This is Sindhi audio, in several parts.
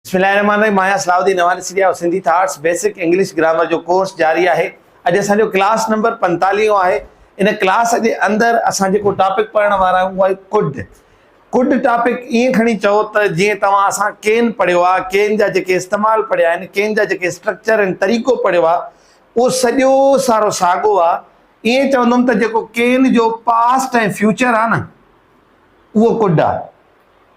بسم الله الرحمن الرحيم مان آهيان Salah Uddin Nohani Sindhi of Sindhi thoughts basic English grammar جو ڪورس جاري آهي اڄ اسان جو ڪلاس نمبر پنجتاليهون آهي ان ڪلاس جي اندر اسان جيڪو ٽاپڪ پڙهڻ وارا آهيون اهو آهي ڪڊ ڪڊ ٽاپڪ ائين کڻي چئو ته جيئن توهان اسان ڪين پڙهيو آهي ڪين جا جيڪي استعمال پڙهيا آهن ڪين جا جيڪي اسٽرڪچر ۽ طريقو پڙهيو آهي اهو سڄو سارو ساڳو آهي ائين چوندم ته جيڪو ڪين جو پاسٽ ۽ فيوچر آهي نه اهو ڪڊ آهي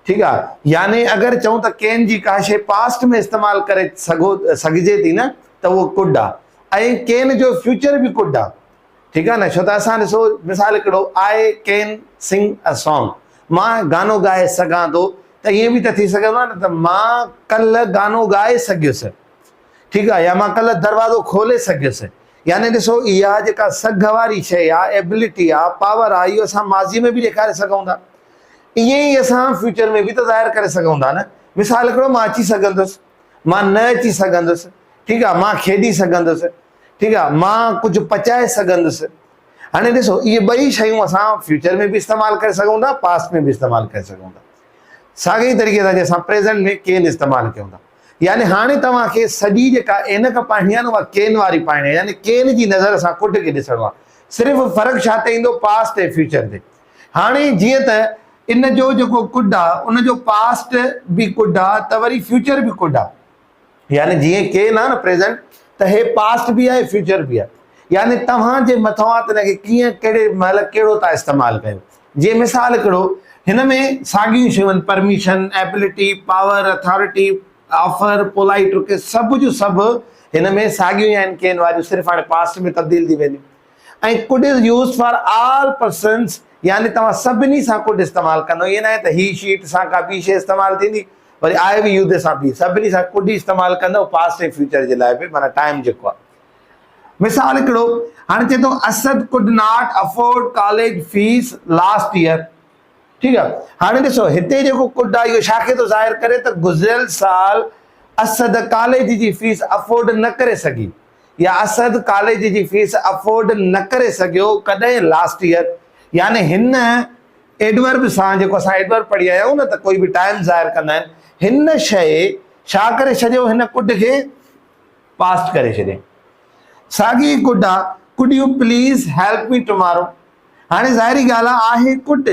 ٺيڪ آ يعني اگر چئون ته ڪين جي ڪا شئي پاسٽ ۾ استعمال ڪري سگهو سگهجي ٿي نه ته اهو ڪڊ آ ۽ ڪين جو فيوچر به ڪڊ آ ٺيڪ آ نه ڇو ته اسان ڏسو مثال هڪڙو آئي ڪين سنگ ا سانگ مان گانو ڳائي سگهان ٿو ته ائين به ته ٿي سگهندو آ نه ته مان ڪلهه گانو ڳائي سگهيس ٺيڪ آ يا مان ڪلهه دروازو کولي سگهيس يعني ڏسو اها جيڪا سگهه واري شئي آ ايبلٽي آ پاور آ اهو اسان ماضي ۾ به ڏيکاري سگهون ٿا ائين ئي اسان فيوچر ۾ به ته ظاهر ڪري سگهون ٿا نه مثال هڪڙو مان اچي سگهندس مان نه اچي سگهندس ٺيڪ آهي مان کيڏي سگهندس ٺيڪ آهي مان ڪجهه پچائي سگهندس هاڻي ڏسو اهي ٻئي شيون اسان فيوچر ۾ به استعمال ڪري سگهون ٿا پاسٽ ۾ به استعمال ڪري سگهون ٿا ساڳي ئي طريقي سان اسان پريزنٽ ۾ ڪين استعمال ڪيون ٿا يعني هاڻي توهان کي سڄي جيڪا عينڪ پائڻي آهي نه اها ڪين واري پائڻي آهي يعني ڪين جي نظر سان ڪڍ کي ڏسڻو آهي صرف فرق ڇا تي ايندو پاسٽ ۽ فيوچر تي هاڻي جيئن ته ان جو جيڪو ڪڊ آ ان جو پاسٽ به ڪڊ آ ته وري فيوچر به ڪڊ آ يعني جيئن ڪين آ نه پريزنٽ ته هي پاسٽ به آ فيوچر به آ يعني توهان جي مٿو آ ته ان کي ڪيئن ڪهڙي مهل ڪهڙو ٿا استعمال ڪيو جيئن مثال ڪهڙو هن ۾ ساڳيون شيون permission ability power authority offer polite request سڀ جو سڀ هن ۾ ساڳيون آهن ڪين واريون صرف هاڻي پاسٽ ۾ تبديل ٿي وينديون ۽ Could is used for all persons يعني توهان سڀني سان Could استعمال ڪندو ائين ناهي ته He She It سان ڪا ٻي شيء استعمال ٿيندي وري I We You دي سان به سڀني سان Could ئي استعمال ڪندو Past ۽ Future جي لاء به معنيٰ Time جيڪو آهي مثال هڪڙو هاڻي چئي ٿو Asad could not afford college fees last year ٺيڪ آهي هاڻي ڏسو هتي جيڪو ڪوڊ آهي اهو ڇاکي ٿو ظاهر ڪري ته گذريل سال اسد ڪاليج جي فيس افورڊ نه ڪري سگهي يا اسد ڪاليج جي فيس افورڊ نه ڪري سگهيو ڪڏهن لاسٽ يئر يعني هن ايڊورب سان جيڪو اسان ايڊورب پڙهي آيا آهيون نه ته ڪوئي به ٽائيم ظاهر ڪندا آهن هن شئي ڇا ڪري ڇڏيو هن ڪڊ کي پاسٽ ڪري ڇڏي ساڳي ڪڊ آ could you please help me tomorrow هاڻي ظاهري ڳالهه آ آهي ڪڊ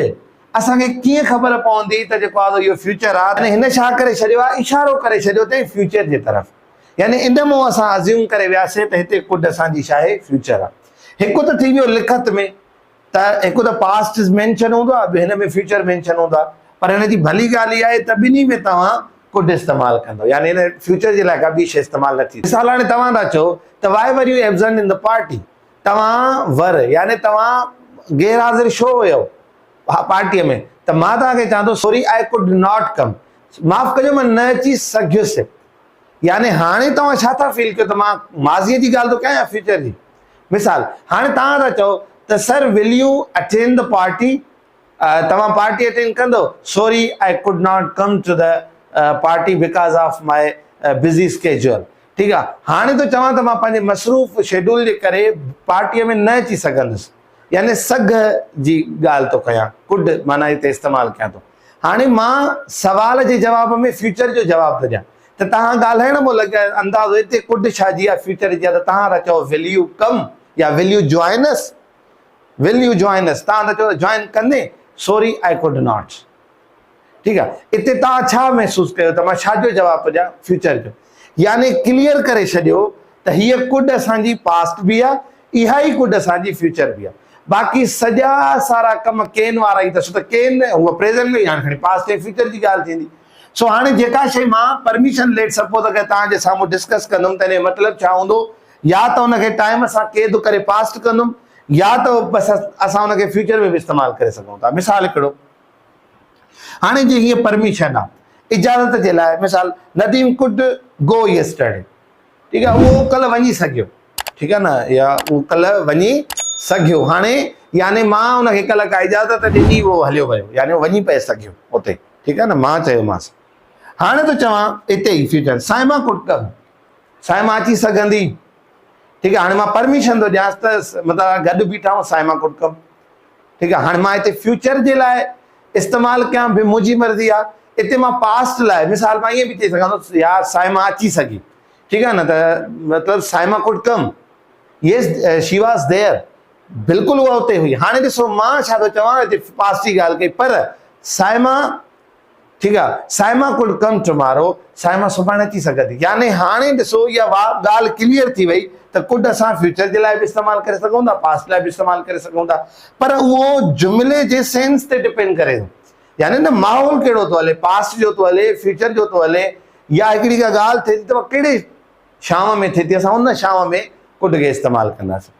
اسان کي ڪيئن خبر پوندي ته جيڪو آ اهو فيوچر آ هن ڇا ڪري ڇڏيو آ اشارو ڪري ڇڏيو تي فيوچر جي طرف يعني ان مون اسان ازيوم ڪري وياسين ته هتي ڪڊ اسان جي شاهه فيوچر آ. هڪ ته ٿي ويو لکت ۾ ته هڪ ته پاسٽ از مينشن هوندو آ ٻي هن ۾ فيوچر مينشن هوندو آ پر هن جي ڀلي ڳالهه اها آهي ته ٻنهي ۾ توهان ڪڊ استعمال ڪندو يعني هن فيوچر جي لاء ڪا ٻي شيء استعمال نه ٿي مثال هاڻي توهان ٿا چئو ته why were you absent in the party توهان ور يعني توهان غير حاضر شو هيو پارٽي ۾ ته مان توهان کي چوان ٿو sorry I could not come معاف ڪجو مان نه اچي سگهيس يعني هاڻي توهان ڇا ٿا فيل ڪيو ته مان ماضي جي ڳالهه ٿو ڪيان يا فيوچر جي؟ مثال، هاڻي توهان ٿا چئو ته sir will you attend the party? توهان پارٽي اٽينڊ ڪندؤ؟ Sorry I could not come to the party because of my busy schedule ٺيڪ آ هاڻي ٿو چوان ته مان پنهنجي مصروف شيڊول جي ڪري پارٽي ۾ نه اچي سگهندس يعني سگهه جي ڳالهه ٿو ڪيان ڪوڊ معنيٰ هتي استعمال ڪيان ٿو. هاڻي مان سوال جي جواب ۾ فيوچر جو جواب ٿو ڏيان ته توهان ڳالهائڻ مهل اگر اندازو اتي ڪڍ ڇا جي آهي فيوچر جي آهي ته توهان ٿا چئو ول يو ڪم يا will you join us will you join us توهان ٿا چئو ته جوائن ڪندين سوري آئي ڪوڊ ناٽ ٺيڪ آهي اتي توهان ڇا محسوس ڪيو ته مان ڇا جو جواب ٿو ڏيان فيوچر جو يعني ڪليئر ڪري ڇڏيو ته هيء ڪڊ اسان جي پاسٽ به آ، اها ئي ڪڊ اسان جي فيوچر به آ. باقي سڄا سارا ڪم ڪين وارا ئي ته سو ته ڪين نه هو پريزنٽ ۾ هئي هاڻي کڻي پاسٽ ۽ فيوچر جي ڳالهه ٿيندي. سو هاڻي جيڪا شيء مان پرميشن ليٽ سپوز اگر توهان جي سامهون ڊسڪس ڪندم ته ان جو مطلب ڇا هوندو يا ته ان کي ٽائيم سان قيد ڪري پاسٽ ڪندم يا ته بس اسان ان کي فيوچر ۾ به استعمال ڪري سگهون ٿا. مثال هڪڙو هاڻي جي هيء پرميشن آ اجازت جي لاء مثال نديم ڪوڊ گو يسٽرڊي ٺيڪ آ اهو ڪلهه وڃي سگهيو ٺيڪ آ نه يا اهو ڪلهه وڃي سگهيو هاڻي يعني مان ان کي ڪلهه ڪا اجازت ڏني اهو هليو ويو يعني اهو وڃي پئي سگهيو اتي ٺيڪ آ نه مان چيومانس هاڻي ٿو چوان اتي ئي future Saima could come Saima اچي سگهندي ٺيڪ آ هاڻي مان پرميشن ٿو ڏيانس ته مطلب گڏ بيٺا آهيون سائما ڪوڊ ڪم ٺيڪ آ هاڻي مان هتي فيوچر جي لاء استعمال ڪيان به منهنجي مرضي آ هتي مان پاسٽ لاء مثال مان ائين به چئي سگهان ٿو يا صائمه اچي سگهي ٺيڪ آ نه ته مطلب Saima could come yes she was there بلڪل اها اتي هئي هاڻي ڏسو مان ڇا ٿو چوان هتي پاسٽ جي ڳالهه ڪئي پر صائمه ٺيڪ آ Saima could come tomorrow Saima سڀاڻي اچي سگهندي يعني هاڻي ڏسو اها واء ڳالهه ڪليئر ٿي وئي ته ڪوڊ اسان فيوچر جي لاء به استعمال ڪري سگهون ٿا پاسٽ لاء به استعمال ڪري سگهون ٿا پر اهو جملي جي سينس تي ڊپينڊ ڪري ٿو يعني نه ماحول ڪهڙو ٿو هلي پاسٽ جو ٿو هلي فيوچر جو ٿو هلي يا هڪڙي ڪا ڳالهه ٿي ته ڪهڙي شام ۾ ٿي ٿي اسان ان شام ۾ ڪوڊ کي استعمال ڪنداسين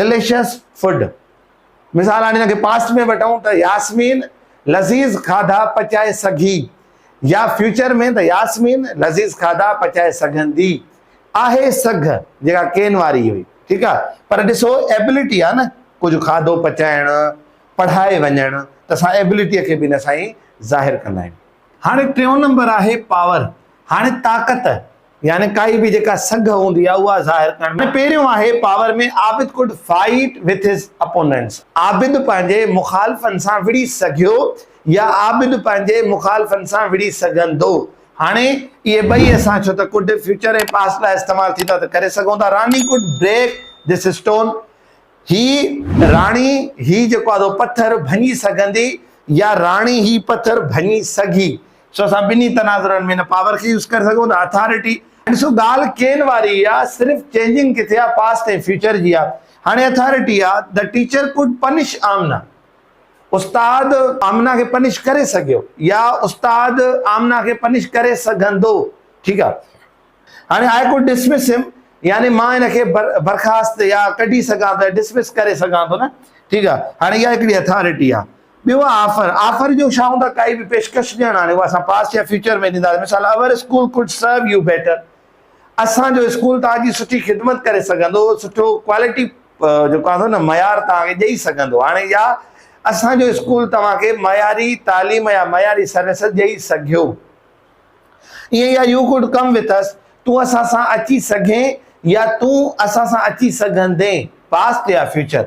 Delicious Food مثال هاڻي هن کي پاسٽ ۾ وٺون ته ياسمين لذيذ کاڌا پچائي سگهي يا فيوچر ۾ ته ياسمين لذيذ کاڌا پچائي سگهندي آهي سگهه جيڪا ڪين واري هئي ٺيڪ آهي پر ڏسو ابيلٽي آهي نه ڪجهه کاڌو پچائڻ پڙهائي وڃڻ ته اسان ابيلٽي کي به ان سان ئي ظاهر ڪندا آهيون هاڻي ٽيون نمبر آهي پاور هاڻي طاقت يعني ڪائي به جيڪا سگهه هوندي آهي اها ظاهر ڪرڻ ۾ پهريون آهي power ۾ Abid could fight with his opponents Abid پنهنجي مخالفن سان وڙهي سگهيو يا عابد پنهنجي مخالفن سان وڙهي سگهندو هاڻي اهي ٻئي اسان ڇو ته ڪوڊ فيوچر ۽ پاسٽ لاء استعمال ٿي ٿا ته ڪري سگهون ٿا Rani could break this stone هي راڻي هي جيڪو آهي سو پٿر ڀڃي سگهندي يا راڻي هي پٿر ڀڃي سگهي سو اسان ٻنهي تناظرن ۾ هن پاور کي يوز ڪري سگهون ٿا اٿارٽي ڏسو ڳالهه ڪين واري ئي آهي صرف چينجنگ ڪٿي آهي پاسٽ ۽ فيوچر جي آهي هاڻي اٿارٽي آهي the teacher could punish Amna استاد آمنه کي پنش ڪري سگهيو يا استاد آمنه کي پنش ڪري سگهندو ٺيڪ آهي هاڻي آء ڪوڊ ڊسمس هيم يعني مان هن کي برخاست يا ڪڍي سگهان ٿو ڊسمس ڪري سگهان ٿو نه ٺيڪ آ هاڻي اها هڪڙي اٿارٽي آ ٻيو آ آفر آفر جو ڇا هوندا ڪائي به پيشڪش ڏيڻ هاڻي اها اسان پاسٽ يا فيوچر ۾ ڏيندا مثال our school could serve you better اسان جو اسڪول توهان جي سٺي خدمت ڪري سگهندو سٺو ڪوالٽي جيڪو آهي نه معيار توهان کي ڏيئي سگهندو هاڻي يا اسان جو اسڪول توهان کي معياري تعليم يا معياري سروسز ڏيئي سگهيو ايئن يا you could come with us, تون اسان سان اچي سگهين يا تون اسان سان اچي سگهندين، پاسٽ يا فيوچر.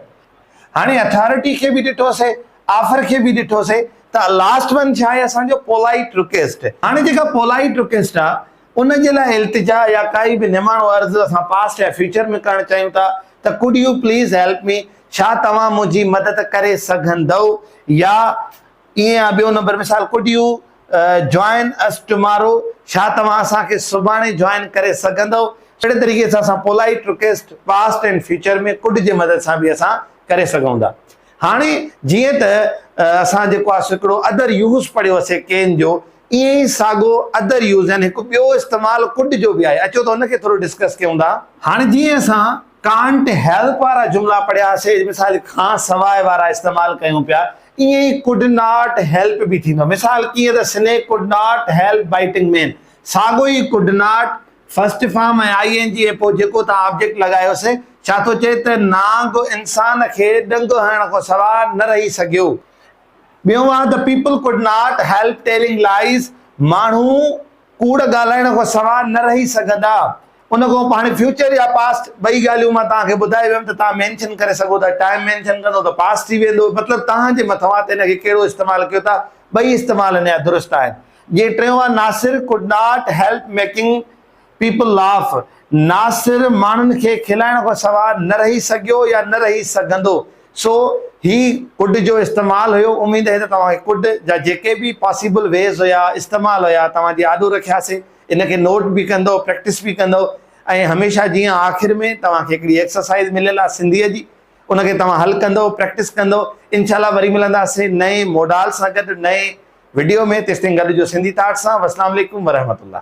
هاڻي اٿارٽي کي به ڏٺوسين، آفر کي به ڏٺوسين ته لاسٽ ون ڇا آهي اسان جو پولائيٽ رڪيسٽ. هاڻي جيڪا پولائيٽ رڪيسٽ آهي ان جي لاء التجا يا ڪائي به نماڻو عرض اسان پاسٽ يا فيوچر ۾ ڪرڻ چاهيون ٿا ته could you please help me, ڇا توهان منهنجي مدد ڪري سگهندؤ يا ايئن آ ٻيو نمبر مثال could you join us tomorrow ڇا توهان اسان کي سڀاڻي جوائن ڪري سگهندؤ اهڙي طريقي سان اسان polite request past and future ۾ could جي مدد سان به اسان ڪري سگهون ٿا هاڻي جيئن ته اسان جيڪو آ سڪڙو ادر يوز پڙهيو اسي ڪين جو ايئن ئي ساڳو ادر يوز يعني هڪ ٻيو استعمال ڪوڊ جو به آهي اچو ته ان کي ٿورو ڊسڪس ڪيون ٿا هاڻي جيئن اسان ڪانٽ هيلپ وارا جملا پڙهياسي مثال کان سواء وارا استعمال ڪيون پيا ائين ئي ڪوڊ ناٽ هيلپ به ٿيندو مثال ڪيئن ته snake could not help biting man ساڳو ئي could not first form ۽ I N G ۽ پوء جيڪو توهان آبجيڪٽ لڳايو سي ڇا ٿو چئي ته نانگ انسان کي ڏنگ هڻڻ کان سواء نه رهي سگهيو ٻيون آهي ته people could not help telling lies ماڻهو ڪوڙ ڳالهائڻ کان سواء نه رهي سگهندا. ان کان هاڻي فيوچر يا پاسٽ ٻئي ڳالهيون مان توهان کي ٻڌائي ويم ته توهان مينشن ڪري سگهو ٿا ٽائيم مينشن ڪندو ته پاسٽ ٿي ويندو مطلب توهان جي مٿو آهي ته ان کي ڪهڙو استعمال ڪيو ٿا ٻئي استعمال نيا درست آهن جيئن ٽيون آهي Nasir could not help making people laugh Nasir ماڻهن کي کلائڻ کان سواء نه رهي سگهيو يا نه رهي سگهندو سو هي ڪڊ جو استعمال هيو، اميد آهي ته توهان کي ڪڊ جا جيڪي به پاسيبل ويز هيا، استعمال هيا، توهان جي آڏو رکياسي، ان کي نوٽ به ڪندئو، پريڪٽس به ڪندئو ۽ هميشه جيئن آخر ۾ توهان کي هڪڙي ايڪسرسائيز مليل آهي سنڌيء جي، ان کي توهان حل ڪندئو، پريڪٽس ڪندئو، انشاء الله وري ملنداسين نئين موڊال سان گڏ نئين وڊيو ۾ تيستائين گڏ هجو سنڌي ٿاٽس سان، والسلام عليڪم ورحمة الله.